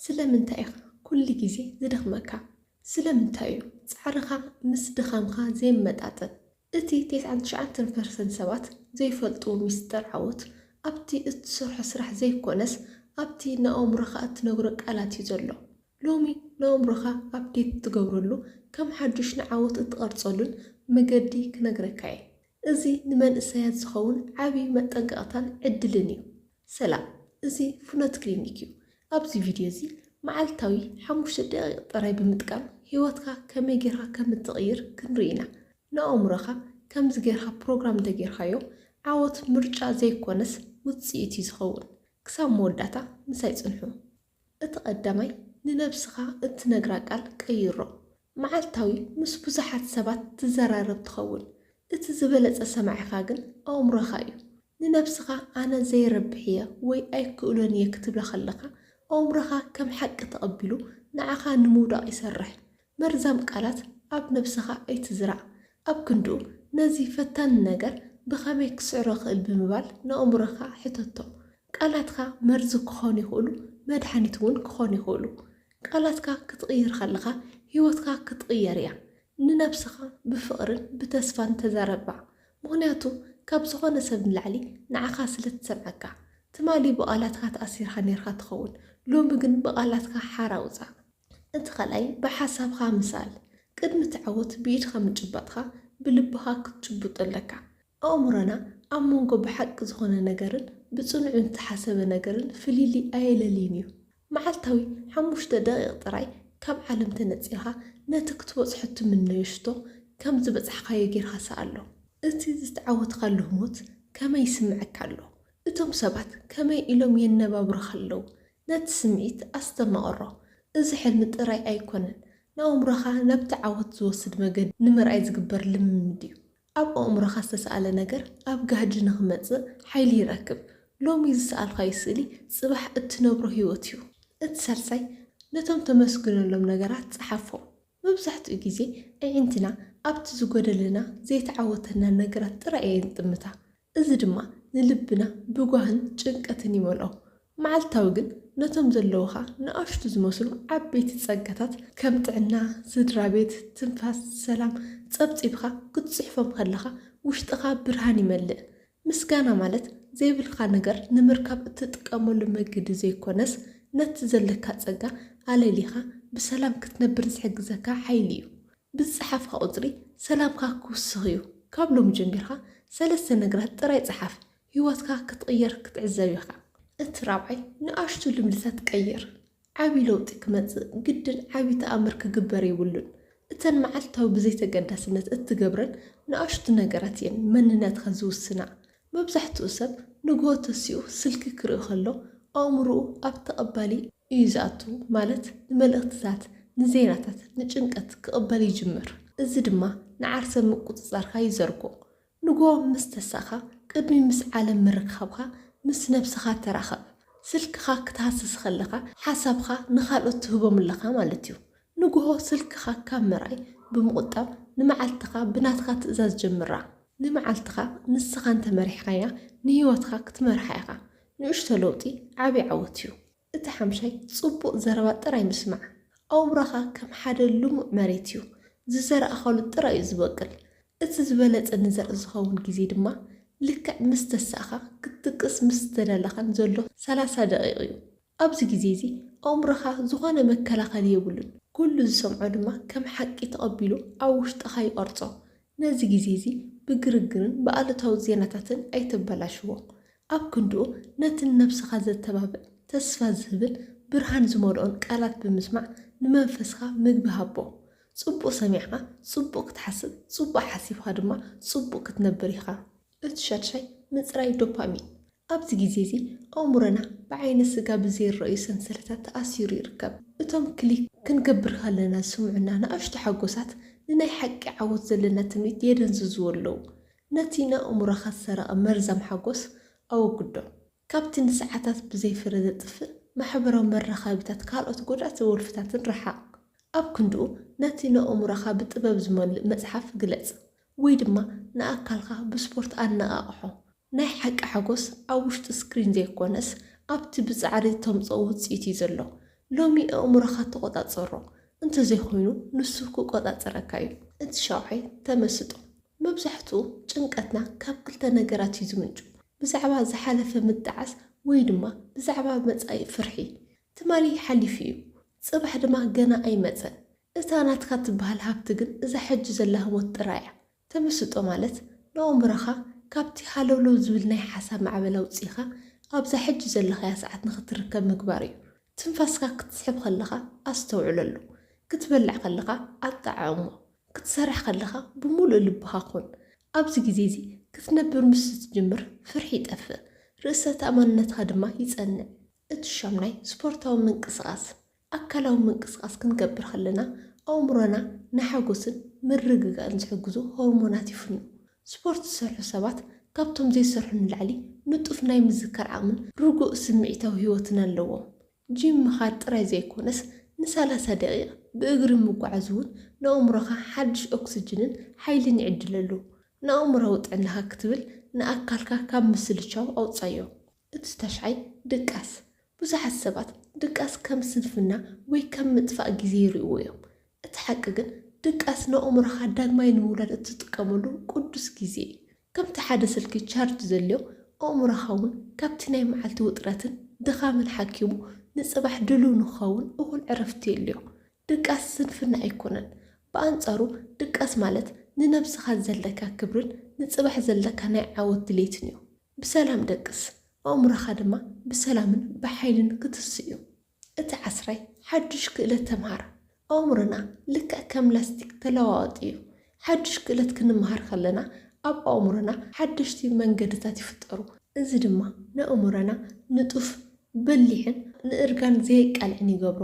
ስለምንታይ ኢኻ ኩሉ ግዜ ዝደኽመካ? ስለምንታይ እዩ ጻዕርኻ ምስ ድኻምካ ዘይመጣጠን? እቲ ቴስዓን ትሽዓንተን ፐርሰንት ሰባት ዘይፈልጥዎ ሚስጥር ዓወት፣ ኣብቲ እትሰርሖ ስራሕ ዘይኰነስ ኣብቲ ንኣእምሮኻ እትነግሮ ቃላት እዩ ዘሎ። ሎሚ ንኣእምሮኻ ኣፕዴት እትገብረሉ፣ ከም ሓድሽ ንዓወት እትቐርጸሉን መገዲ ክነግረካ እየ። እዚ ንመንእሰያት ዝኸውን ዓቢ መጠንቀቕታን ዕድልን እዩ። ሰላም እዚ ፍኖት ክሊኒክ እዩ ኣብዚ ቪድዮ እዚ መዓልታዊ ሓሙሽተ ደቂቅ ጥራይ ብምጥቃም ሂወትካ ከመይ ጌርካ ከም እትቅይር ክንርኢ ኢና ንኣእምሮካ ከምዚ ጌርካ ፕሮግራም እንተጌርካዮ ዓወት ምርጫ ዘይኮነስ ውጽኢት እዩ ዝከውን ክሳብ መወዳእታ ምሳይ ጽንሑ። እቲ ቀዳማይ ንነብስኻ እትነግራ ቃል ቀይሮ። መዓልታዊ ምስ ብዙሓት ሰባት ትዘራረብ ትኸውን፣ እቲ ዝበለጸ ሰማዒኻ ግን ኣእምሮኻ እዩ። ንነብስኻ ኣነ ዘይረብሕ እየ ወይ ኣይክእሎን እየ ክትብላ ከለኻ ኣእምሮኻ ከም ሓቂ ተቐቢሉ ንዓኻ ንምውዳቕ ይሰርሕ። መርዛም ቃላት ኣብ ነብስኻ ኣይትዝራእ። ኣብ ክንድኡ፣ ነዚ ፈታኒ ነገር ብኸመይ ክስዕሮ እኽእል ብምባል ንኣእምሮኻ ሕተቶ። ቃላትካ መርዚ ክዀኑ ይኽእሉ፣ መድሃኒት እውን ክዀኑ ይኽእሉ። ቃላትካ ክትቕይር ከለኻ ህይወትካ ክትቕየር እያ። ንነብስኻ ብፍቕርን ብተስፋን ተዛረባ፣ ምኽንያቱ ካብ ዝዀነ ሰብ ንላዕሊ ንዓኻ ስለ እትሰምዓካ። ትማሊ ብቓላትካ ተኣሲርካ ኔርካ ትኸውን፣ ሎሚ ግን ብቓላትካ ሓራ ውጻእ። እቲ ካልኣይ ብሓሳብኻ ምሳል፣ ቅድሚ እትዓወት ብኢድኻ ምጭባጥኻ ብልብኻ ክትጭብጦ ኣለካ። ኣእምሮና ኣብ መንጎ ብሓቂ ዝኾነ ነገርን ብጽኑዕ ንተሓሰበ ነገርን ፍልልይ ኣየለልይን እዩ። መዓልታዊ ሓሙሽተ ደቒቕ ጥራይ ካብ ዓለም ተነጺልካ ነቲ ክትበጽሖ እትምነዮ ሽቶ ከም ዝበጻሕካዮ ጌርካ ሰኣሎ። እቲ ዝተዓወትካሉ ህሞት ከመይ ይስምዐካ ኣሎ? እቶም ሰባት ከመይ ኢሎም የነባብሩኻ ኣለዉ? ነቲ ስምዒት ኣስተማቕሮ። እዚ ሕልሚ ጥራይ ኣይኰነን፣ ንኣእምሮኻ ናብቲ ዓወት ዝወስድ መገዲ ንምርኣይ ዝግበር ልምምድ እዩ። ኣብ ኣእምሮኻ ዝተሳእለ ነገር ኣብ ጋህዲ ንኽመጽእ ሓይሊ ይረክብ። ሎሚ ዝሰኣልካዮ ስእሊ ጽባሕ እትነብሮ ህይወት እዩ። እቲ ሳልሳይ፣ ነቶም ተመስግነሎም ነገራት ጸሓፎም። መብዛሕትኡ ግዜ ኣዒንትና ኣብቲ ዝጐደለና፣ ዘይተዓወተናን ነገራት ጥራይ እየን ዝጥምታ። እዚ ድማ ንልብና ብጓህን ጭንቀትን ይመልኦ። መዓልታዊ ግን ነቶም ዘለዉኻ ንኣሽቱ ዝመስሉ ዓበይቲ ጸጋታት ከም ጥዕና፣ ስድራቤት፣ ትንፋስ፣ ሰላም ጸብጺብካ ክትጽሕፎም ከለኻ ውሽጥኻ ብርሃን ይመልእ። ምስጋና ማለት ዘይብልካ ነገር ንምርካብ እትጥቀመሉ መገዲ ዘይኮነስ ነቲ ዘለካ ጸጋ ኣለሊኻ ብሰላም ክትነብር ዝሕግዘካ ሓይሊ እዩ። ብዝጸሓፍካ ቁጽሪ ሰላምካ ክውስኽ እዩ። ካብ ሎሚ ጀሚርካ ሰለስተ ነገራት ጥራይ ጸሓፍ፣ ህይወትካ ክትቕየር ክትዕዘብ ኢኻ። እቲ ራብዓይ ንኣሽቱ ልምድታት ቀይር። ዓቢ ለውጢ ክመጽእ ግድን ዓቢ ተኣምር ክግበር የብሉን። እተን መዓልታዊ ብዘይ ተገዳስነት እትገብረን ንኣሽቱ ነገራት እየን መንነትካ ዝውስና። መብዛሕትኡ ሰብ ንግሆ ተሲኡ ስልኪ ክርኢ ከሎ ኣእምሮኡ ኣብ ተቐባሊ፣ እዩ ዝኣቱ፣ ማለት ንመልእኽትታት፣ ንዜናታት፣ ንጭንቀት ክቕበል ይጅምር። እዚ ድማ ንዓርሰ ምቁጽጻርካ ይዘርጎ። ንግሆ ምስ ተሳእካ፣ ቅድሚ ምስ ዓለም ምርኻብካ ምስ ነብስኻ ተራኸብ። ስልክኻ ክትሃስስ ከለኻ ሓሳብካ ንኻልኦት ትህቦም ኣለኻ ማለት እዩ። ንግሆ ስልክኻ ካብ ምርኣይ ብምቑጣብ ንመዓልትኻ ብናትካ ትእዛዝ ጀምራ። ንመዓልትኻ ንስኻ እንተ መሪሕካያ ንህይወትካ ክትመርሓ ኢኻ። ንእሽቶ ለውጢ ዓቢ ዓወት እዩ። እቲ ሓምሻይ ጽቡቕ ዘረባ ጥራይ ምስማዕ። ኣውራኻ ከም ሓደ ልሙዕ መሬት እዩ፣ ዝዘራእኻሉ ጥራይ እዩ ዝበቅል። እቲ ዝበለጸ ንዘርኢ ዝኸውን ግዜ ድማ ልክዕ ምስ ተሳእካ ክትድቅስ ምስ ዝተዳለኻን ዘሎ ሰላሳ ደቒቕ እዩ። ኣብዚ ግዜ እዚ ኣእምሮኻ ዝኾነ መከላኸሊ የብሉን፣ ኩሉ ዝሰምዖ ድማ ከም ሓቂ ተቐቢሉ ኣብ ውሽጥኻ ይቐርጾ። ነዚ ግዜ'ዚ ብግርግርን ብኣሉታዊ ዜናታትን ኣይተበላሽዎ። ኣብ ክንድኡ ነቲ ንነብስኻ ዘተባብዕ፣ ተስፋ ዝህብን ብርሃን ዝመልኦን ቃላት ብምስማዕ ንመንፈስካ ምግቢ ሃቦ። ጽቡቕ ሰሚዕካ ጽቡቕ ክትሓስብ፣ ጽቡቕ ሓሲብካ ድማ ጽቡቕ ክትነብር ኢኻ። እቲ ሻድሻይ ምጽራይ ዶፓሚን፣ ኣብዚ ግዜ እዚ ኣእምሮና ብዓይነ ስጋ ብዘይረኣዩ ሰንሰለታት ተኣሲሩ ይርከብ። እቶም ክሊክ ክንገብር ከለና ዝስምዑና ንኣሽቱ ሓጎሳት ንናይ ሓቂ ዓወት ዘለና ትምኒት የደንዝዝዎ ኣለዉ። ነቲ ንኣእምሮኻ ዝሰረቐ መርዛም ሓጎስ ኣወግዶ። ካብቲ ንሰዓታት ብዘይ ፍረ ዘጥፍእ ማሕበራዊ መራኻቢታት ካልኦት ጎዳእቲ ወልፍታትን ረሓቕ። ኣብ ክንድኡ ነቲ ነእሙሮኻ ብጥበብ ዝመልእ መጽሓፍ ግለጽ ወይ ድማ ንኣካልካ ብስፖርት ኣነቓቕሖ። ናይ ሓቂ ሓጎስ ኣብ ውሽጢ ስክሪን ዘይኮነስ ኣብቲ ብጻዕሪ እተምጽኦ ውጽኢት እዩ ዘሎ። ሎሚ ኣእሙሮኻ ተቖጻጸሮ፣ እንተዘይኮይኑ ንሱ ክቆጻጸረካ እዩ። እቲ ሻውዓይ ተመስጦ። መብዛሕትኡ ጭንቀትና ካብ ክልተ ነገራት እዩ ዝምንጩ። ብዛዕባ ዝሓለፈ ምጣዓስ ወይ ድማ ብዛዕባ መጻኢ ፍርሒ። ትማሊ ሓሊፉ እዩ፣ ጽባሕ ድማ ገና ኣይመጸን። እታ ናትካ ትበሃል ሃብቲ ግን እዛ ሕጂ ዘላ ህሞት ጥራይ እያ። ተመስጦ ማለት ንኣእምሮኻ ካብቲ ሃለውለው ዝብል ናይ ሓሳብ ማዕበል ኣውጺእኻ ኣብዛ ሕጂ ዘለኻያ ሰዓት ንኽትርከብ ምግባር እዩ። ትንፋስካ ክትስሕብ ከለኻ ኣስተውዕለሉ። ክትበልዕ ከለኻ ኣጠዓዕሞ። ክትሰርሕ ከለኻ ብምሉእ ልብኻ ኩን። ኣብዚ ግዜ እዚ ክትነብር ምስ እትጅምር ፍርሒ ይጠፍእ፣ ርእሰ-ተኣማንነትካ ድማ ይጸንዕ። እቲ ሻምናይ ስፖርታዊ ምንቅስቓስ። ኣካላዊ ምንቅስቓስ ክንገብር ከለና ኣእምሮና ንሓጎስን ምርግጋእን ዝሕግዙ ሆርሞናት ይፍኑ። ስፖርት ዝሰርሑ ሰባት ካብቶም ዘይሰርሑ ንላዕሊ ንጡፍ ናይ ምዝካር ዓቕምን ርጉእ ስምዒታዊ ህይወትን ኣለዎም። ጂም ምኻድ ጥራይ ዘይኮነስ ንሰላሳ ደቒቕ ብእግሪ ምጉዓዝ'ውን ንኣእምሮኻ ሓድሽ ኦክስጅንን ሓይልን ይዕድለሉ። ንኣእምሮኣዊ ጥዕናኻ ክትብል ንኣካልካ ካብ ምስልቻው ኣውጽኣዮ። እቲ ታሽዓይ ድቃስ። ብዙሓት ሰባት ድቃስ ከም ስንፍና ወይ ከም ምጥፋእ ግዜ ይርእይዎ እዮም። እቲ ሓቂ ግን ድቃስ ንኣእምሮኻ ዳግማይ ንምውላድ እትጥቀመሉ ቅዱስ ግዜ እዩ። ከምቲ ሓደ ስልኪ ቻርጅ ዘድልዮ፣ ኣእምሮኻ እውን ካብቲ ናይ መዓልቲ ውጥረትን ድኻምን ሓኪሙ ንጽባሕ ድሉው ንኽኸውን እኹል ዕረፍቲ የድልዮ። ድቃስ ስንፍና ኣይኰነን። ብኣንጻሩ ድቃስ ማለት ንነብስኻ ዘለካ ክብርን ንጽባሕ ዘለካ ናይ ዓወት ድሌትን እዩ። ብሰላም ደቅስ፣ ኣእምሮኻ ድማ ብሰላምን ብሓይልን ክትስእ እዩ። እቲ ዓስራይ ሓዱሽ ክእለት ተምሃር። ኣእምሮና ልክዕ ከም ላስቲክ ተለዋዋጢ እዩ። ሓዱሽ ክእለት ክንመሃር ከለና ኣብ ኣእምሮና ሓደሽቲ መንገድታት ይፍጠሩ፣ እዚ ድማ ንኣእምሮና ንጡፍ፣ በሊሕን ንእርጋን ዘየቃልዕን ይገብሮ።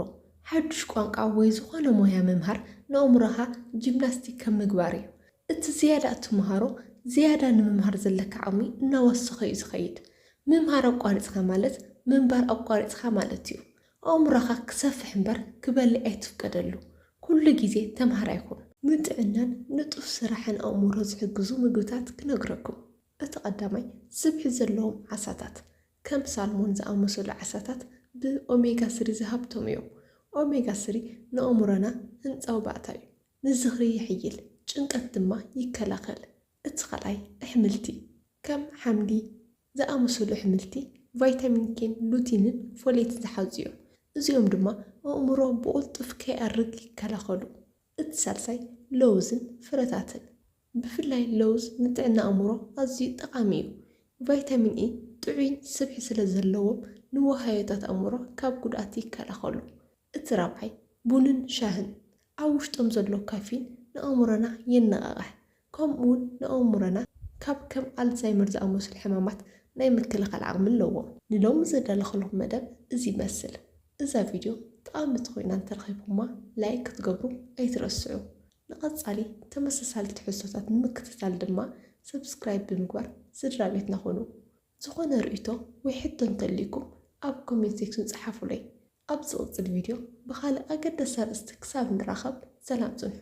ሓዱሽ ቋንቋ ወይ ዝኾነ ሞያ ምምሃር ንኣእምሮኻ ጂምናስቲክ ከም ምግባር እዩ። እቲ ዝያዳ እትመሃሮ፣ ዝያዳ ንምምሃር ዘለካ ዓቕሚ እናወሰኸ እዩ ዝኸይድ። ምምሃር ኣቋሪጽካ ማለት ምንባር ኣቋሪጽካ ማለት እዩ። ኣእምሮኻ ክሰፍሕ እምበር ክበልዕ ኣይትፍቀደሉ። ኩሉ ግዜ ተምሃራይ ኩን። ንጥዕናን ንጡፍ ስራሕን ኣእምሮ ዝሕግዙ ምግብታት ክነግረኩም። እቲ ቀዳማይ፣ ስብሒ ዘለዎም ዓሳታት። ከም ሳልሞን ዝኣመሰሉ ዓሳታት ብ ኦሜጋ ስሪ ዝሃብተሙ እዮም። ኦሜጋ ስሪ ንኣእምሮና ህንጻዊ ባእታ እዩ። ንዝኽሪ የሕይል፣ ጭንቀት ድማ ይከላኸል። እቲ ካልኣይ ኣሕምልቲ ከም ሓምሊ ዝኣመሰሉ ኣሕምልቲ ቫይታሚን ኬን ሉቲንን ፎሌትን ዝሓዙ እዮም። እዚኦም ድማ ኣእምሮ ብቕልጡፍ ከይኣርግ ይከላኸሉ። እቲ ሳልሳይ ለውዝን ፍረታትን ብፍላይ ለውዝ ንጥዕና ኣእምሮ ኣዝዩ ጠቓሚ እዩ። ቫይታሚን ኢ ጥዑይን ስብሒ ስለ ዘለዎም ንዋህዮታት ኣእምሮ ካብ ጉድኣት ይከላኸሉ። እቲ ራብዓይ ቡንን ሻህን ኣብ ውሽጦም ዘሎ ካፊን ንኣእምሮና የነቓቕሕ፣ ከምኡ'ውን ንኣእምሮና ካብ ከም ኣልዛይመር ዝኣመሰሉ ሕማማት ናይ ምክልኻል ዓቕሚ ኣለዎም። ንሎሚ ዘዳለኹልኩም መደብ እዚ ይመስል። እዛ ቪድዮ ጠቓሚት ኮይና እንተረኺብኩማ ላይክ ክትገብሩ ኣይትረስዑ። ንቐጻሊ ተመሳሳሊ ትሕዝቶታት ንምክትታል ድማ ሰብስክራይብ ብምግባር ስድራቤትና ኩኑ። ዝኾነ ርእይቶ ወይ ሕቶ እንተልዩኩም ኣብ ኮሜንት ሴክሽን ጸሓፉለይ። ኣብ ዝቕጽል ቪድዮ ብኻልእ ኣገዳሲ ኣርእስቲ ክሳብ ንራኸብ ሰላም ጽንሑ።